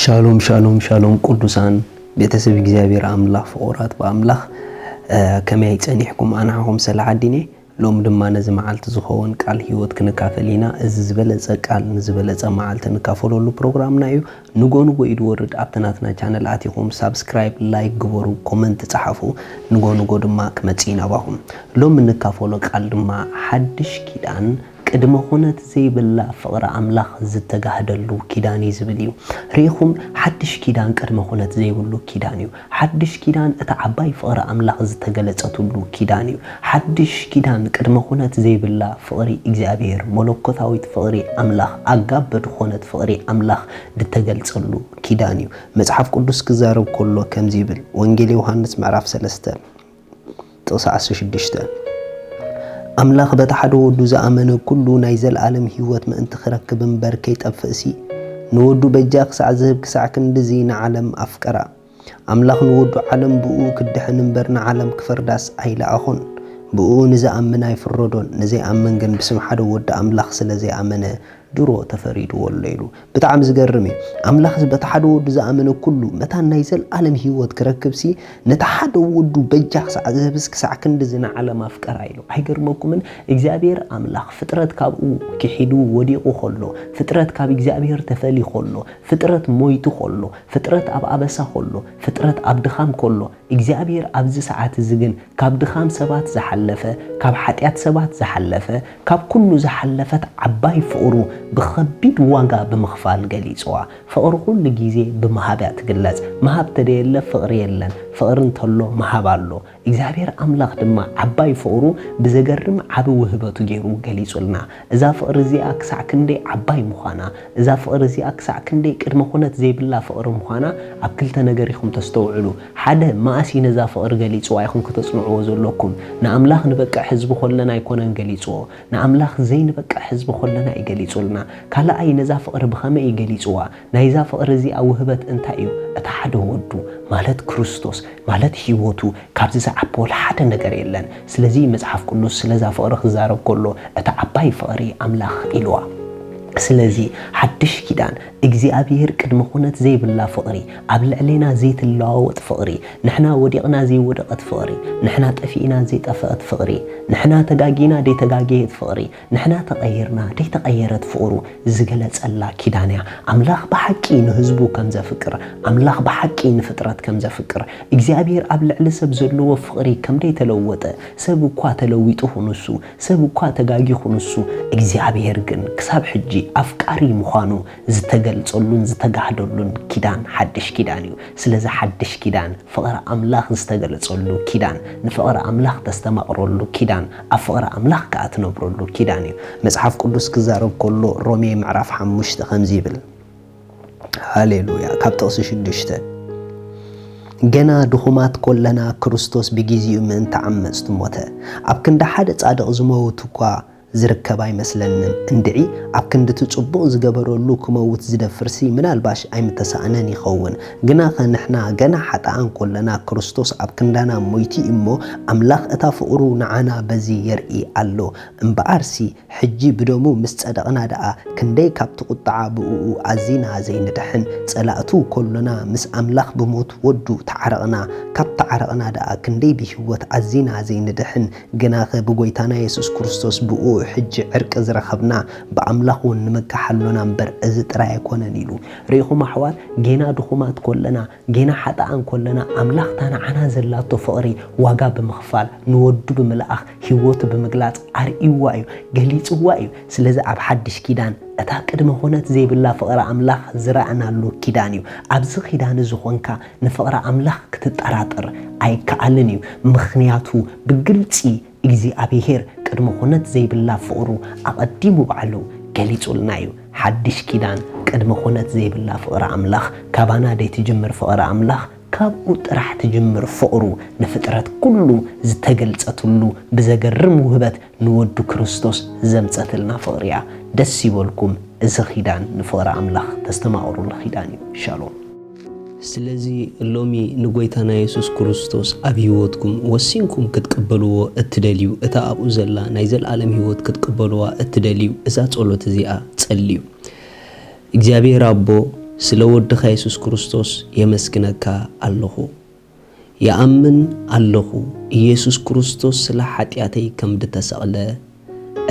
ሻሎም ሻሎም ሻሎም ቁዱሳን ቤተሰብ እግዚኣብሔር ኣምላኽ ፍቑራት ብኣምላኽ ከመይ ጸኒሕኩም ኣንሓኹም ሰላሕ ኣዲኔ ሎም ድማ ነዚ መዓልቲ ዝኸውን ቃል ህይወት ክንካፈል ኢና እዚ ዝበለጸ ቃል ንዝበለጸ መዓልቲ ንካፈለሉ ፕሮግራምና እዩ ንጎ ንጎ እዩ ድወርድ ኣብቲ ናትና ቻነል ኣቲኹም ሳብስክራይብ ላይክ ግበሩ ኮመንት ጸሓፉ ንጎ ንጎ ድማ ክመጽእ ኢና ባኹም ሎም እንካፈሎ ቃል ድማ ሓድሽ ኪዳን ቅድመ ኩነት ዘይብላ ፍቕሪ ኣምላኽ ዝተጋህደሉ ኪዳን እዩ ዝብል እዩ። ርኢኹም፣ ሓድሽ ኪዳን ቅድመ ኩነት ዘይብሉ ኪዳን እዩ። ሓድሽ ኪዳን እታ ዓባይ ፍቕሪ ኣምላኽ ዝተገለጸትሉ ኪዳን እዩ። ሓድሽ ኪዳን ቅድመ ኩነት ዘይብላ ፍቕሪ እግዚኣብሔር፣ መለኮታዊት ፍቕሪ ኣምላኽ፣ ኣጋበ ድኾነት ፍቕሪ ኣምላኽ ድተገልጸሉ ኪዳን እዩ። መጽሓፍ ቅዱስ ክዛረብ ከሎ ከምዚ ይብል፣ ወንጌል ዮሃንስ ምዕራፍ ሰለስተ። ጥቕሲ ዓሰርተ ሽዱሽተ ኣምላኽ በቲ ሓደ ወዱ ዝኣመነ ኩሉ ናይ ዘልኣለም ህይወት ምእንቲ ክረክብ እምበር ከይጠፍእሲ ንወዱ በጃ ክሳዕ ዝህብ ክሳዕ ክንድዚ ንዓለም ኣፍቀራ። ኣምላኽ ንወዱ ዓለም ብእኡ ክትድሕን እምበር ንዓለም ክፈርዳስ ኣይለኣኾን። ብእኡ ንዝኣምን ኣይፍረዶን፣ ንዘይኣምን ግን ብስም ሓደ ወዲ ኣምላኽ ስለ ዘይኣመነ ድሮ ተፈሪድዎ ኣሎ ኢሉ። ብጣዕሚ ዝገርም እዩ። ኣምላኽስ በቲ ሓደ ወዱ ዝኣመነ ኩሉ መታን ናይ ዘልኣለም ህይወት ክረክብሲ ነቲ ሓደ ወዱ በጃ ክሳዕ ዝህብስ ክሳዕ ክንድዚ ንዓለም ኣፍቀራ ኢሉ። ኣይገርመኩምን? እግዚኣብሔር ኣምላኽ ፍጥረት ካብኡ ኪሒዱ ወዲቁ ከሎ፣ ፍጥረት ካብ እግዚኣብሔር ተፈልዩ ከሎ፣ ፍጥረት ሞይቱ ከሎ፣ ፍጥረት ኣብ ኣበሳ ከሎ፣ ፍጥረት ኣብ ድኻም ከሎ፣ እግዚኣብሔር ኣብዚ ሰዓት እዚ ግን ካብ ድኻም ሰባት ዝሓለፈ ካብ ሓጢኣት ሰባት ዝሓለፈ ካብ ኩሉ ዝሓለፈት ዓባይ ፍቕሩ ብኸቢድ ዋጋ ብምኽፋል ገሊጽዋ። ፍቕሪ ኩሉ ግዜ ብምሃብ እያ ትግለጽ። ምሃብ ተደየለ ፍቕሪ የለን። ፍቕሪ እንተሎ ምሃብ ኣሎ። እግዚኣብሔር ኣምላኽ ድማ ዓባይ ፍቕሩ ብዘገርም ዓቢ ውህበቱ ገይሩ ገሊጹልና። እዛ ፍቕሪ እዚኣ ክሳዕ ክንደይ ዓባይ ምዃና፣ እዛ ፍቕሪ እዚኣ ክሳዕ ክንደይ ቅድመ ኩነት ዘይብላ ፍቕሪ ምዃና ኣብ ክልተ ነገር ኢኹም ተስተውዕሉ። ሓደ፣ መኣስ እዩ ነዛ ፍቕሪ ገሊጽዋ ኢኹም ከተጽንዕዎ ዘሎኩም። ንኣምላኽ ንበቅዕ ህዝቢ ኾለና ኣይኮነን ገሊጽዎ። ንኣምላኽ ዘይንበቅዕ ህዝቢ ኾለና እዩ ገሊጹልና። ካልኣይ፣ ነዛ ፍቕሪ ብኸመይ እዩ ገሊጽዋ? ናይዛ ፍቕሪ እዚኣ ውህበት እንታይ እዩ? እቲ ሓደ ወዱ፣ ማለት ክርስቶስ፣ ማለት ህይወቱ፣ ካብዚ ዝዓቢ ወላ ሓደ ነገር የለን። ስለዚ መጽሓፍ ቅዱስ ስለዛ ፍቕሪ ክዛረብ ከሎ እታ ዓባይ ፍቕሪ ኣምላኽ ኢልዋ። ስለዚ ሓድሽ ኪዳን እግዚኣብሄር ቅድመ ኩነት ዘይብላ ፍቕሪ፣ ኣብ ልዕሌና ዘይትለዋወጥ ፍቕሪ፣ ንሕና ወዲቕና ዘይወደቐት ፍቕሪ፣ ንሕና ጠፊእና ዘይጠፈእት ፍቕሪ፣ ንሕና ተጋጊና ዘይተጋገየት ፍቕሪ፣ ንሕና ተቐይርና ደይተቐየረት ፍቕሩ ዝገለጸላ ኪዳን እያ። ኣምላኽ ብሓቂ ንህዝቡ ከም ዘፍቅር፣ ኣምላኽ ብሓቂ ንፍጥረት ከም ዘፍቅር፣ እግዚኣብሄር ኣብ ልዕሊ ሰብ ዘለዎ ፍቕሪ ከም ደይተለወጠ፣ ሰብ እኳ ተለዊጡ ኹኑሱ፣ ሰብ እኳ ተጋጊኹኑሱ፣ እግዚኣብሄር ግን ክሳብ ሕጂ ኣፍቃሪ ምዃኑ ዝተገልጸሉን ዝተጋህደሉን ኪዳን ሓድሽ ኪዳን እዩ። ስለዚ ሓድሽ ኪዳን ፍቕሪ ኣምላኽ ዝተገለጸሉ ኪዳን፣ ንፍቕሪ ኣምላኽ ተስተማቕረሉ ኪዳን፣ ኣብ ፍቕሪ ኣምላኽ ከኣ ትነብረሉ ኪዳን እዩ። መጽሓፍ ቅዱስ ክዛረብ ከሎ ሮሜ ምዕራፍ ሓሙሽተ ከምዚ ይብል፣ ሃሌሉያ፣ ካብ ጥቕሲ ሽዱሽተ፣ ገና ድኹማት ኮለና ክርስቶስ ብጊዜኡ ምእንቲ ዓመጽቲ ሞተ፣ ኣብ ክንዲ ሓደ ጻድቕ ዝመውት እኳ፣ ዝርከብ ኣይመስለንን እንድዒ ኣብ ክንዲ እቲ ጽቡቅ ዝገበረሉ ክመውት ዝደፍርሲ ምናልባሽ ኣይምተሳእነን ይኸውን ግናኸ ንሕና ገና ሓጥኣን ኮለና ክርስቶስ ኣብ ክንዳና ሞይቱ እዩሞ ኣምላኽ እታ ፍቅሩ ንዓና በዚ የርኢ ኣሎ እምብኣርሲ ሕጂ ብደሙ ምስ ጸደቅና ድኣ ክንደይ ካብቲ ቁጥዓ ብእኡ ኣዚና ዘይንድሕን ጸላእቱ ኮሎና ምስ ኣምላኽ ብሞት ወዱ ተዓረቅና ካብ ተዓረቅና ድኣ ክንደይ ብሂወት ኣዚና ዘይንድሕን ግናኸ ብጐይታና የሱስ ክርስቶስ ብእኡ ሕጂ ዕርቂ ዝረኸብና፣ ብኣምላኽ እውን ንምካሕ ኣሎና እምበር፣ እዚ ጥራይ ኣይኰነን ኢሉ። ርኢኹም ኣሕዋት፣ ጌና ድኹማት ኰለና፣ ጌና ሓጥኣን ኰለና፣ ኣምላኽ እታ ንዓና ዘላቶ ፍቕሪ ዋጋ ብምኽፋል፣ ንወዱ ብምልኣኽ፣ ህይወቱ ብምግላጽ ኣርእይዋ እዩ፣ ገሊጽዋ እዩ። ስለዚ ኣብ ሓድሽ ኪዳን፣ እታ ቅድመ-ዅነት ዘይብላ ፍቕሪ ኣምላኽ ዝረኣናሉ ኪዳን እዩ። ኣብዚ ኺዳን እዚ ዀንካ፣ ንፍቕሪ ኣምላኽ ክትጠራጠር ኣይከኣልን እዩ፣ ምኽንያቱ ብግልጺ እግዚኣብሄር ቅድመ ዅነት ዘይብላ ፍቕሩ ኣቐዲሙ ባዕሉ ገሊጹልና እዩ። ሓድሽ ኪዳን ቅድመ ዅነት ዘይብላ ፍቕሪ ኣምላኽ ካባና ደይትጅምር ፍቕሪ ኣምላኽ ካብኡ ጥራሕ ትጅምር ፍቕሩ ንፍጥረት ኩሉ ዝተገልጸትሉ ብዘገርም ውህበት ንወዱ ክርስቶስ ዘምጸትልና ፍቕሪ እያ ደስ ይበልኩም እዚ ኺዳን ንፍቕሪ ኣምላኽ ተስተማቕሩሉ ኺዳን እዩ ሻሎም። ስለዚ ሎሚ ንጐይታና የሱስ ክርስቶስ ኣብ ህይወትኩም ወሲንኩም ክትቅበልዎ እትደልዩ፣ እታ ኣብኡ ዘላ ናይ ዘለኣለም ህይወት ክትቅበልዋ እትደልዩ እዛ ጸሎት እዚኣ ጸልዩ። እግዚኣብሄር ኣቦ ስለ ወድኻ የሱስ ክርስቶስ የመስግነካ ኣለኹ። ይኣምን ኣለኹ ኢየሱስ ክርስቶስ ስለ ሓጢኣተይ ከም ድተሰቕለ፣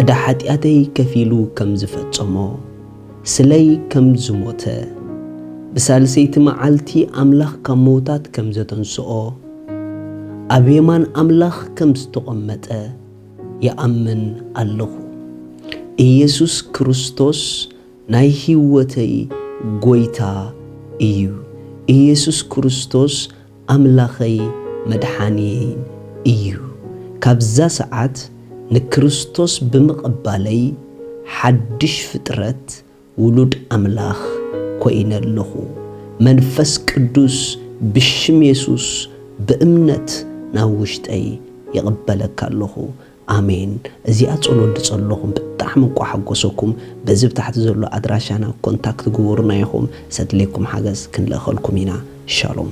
ዕዳ ሓጢኣተይ ከፊሉ ከም ዝፈጸሞ፣ ስለይ ከም ዝሞተ፣ ብሳልሰይቲ መዓልቲ ኣምላኽ ካብ ምውታት ከም ዘተንስኦ፣ ኣብ የማን ኣምላኽ ከም ዝተቖመጠ ይኣምን ኣለኹ። ኢየሱስ ክርስቶስ ናይ ሂወተይ ጎይታ እዩ እየሱስ ክርስቶስ ኣምላኸይ መድሓንየይን እዩ ካብዛ ሰዓት ንክርስቶስ ብምቕባለይ ሓድሽ ፍጥረት ውሉድ ኣምላኽ ኮይነ ኣለኹ መንፈስ ቅዱስ ብሽም የሱስ ብእምነት ናብ ውሽጠይ ይቕበለካ ኣለኹ ኣሜን እዚኣ ጸሎት ድጸለኹም ብጣዕሚ እኳ ሓጎሰኩም በዚ ብታሕቲ ዘሎ ኣድራሻና ኮንታክት ግቡሩና ኢኹም ሰድልየኩም ሓገዝ ክንልእኸልኩም ኢና ሻሎም።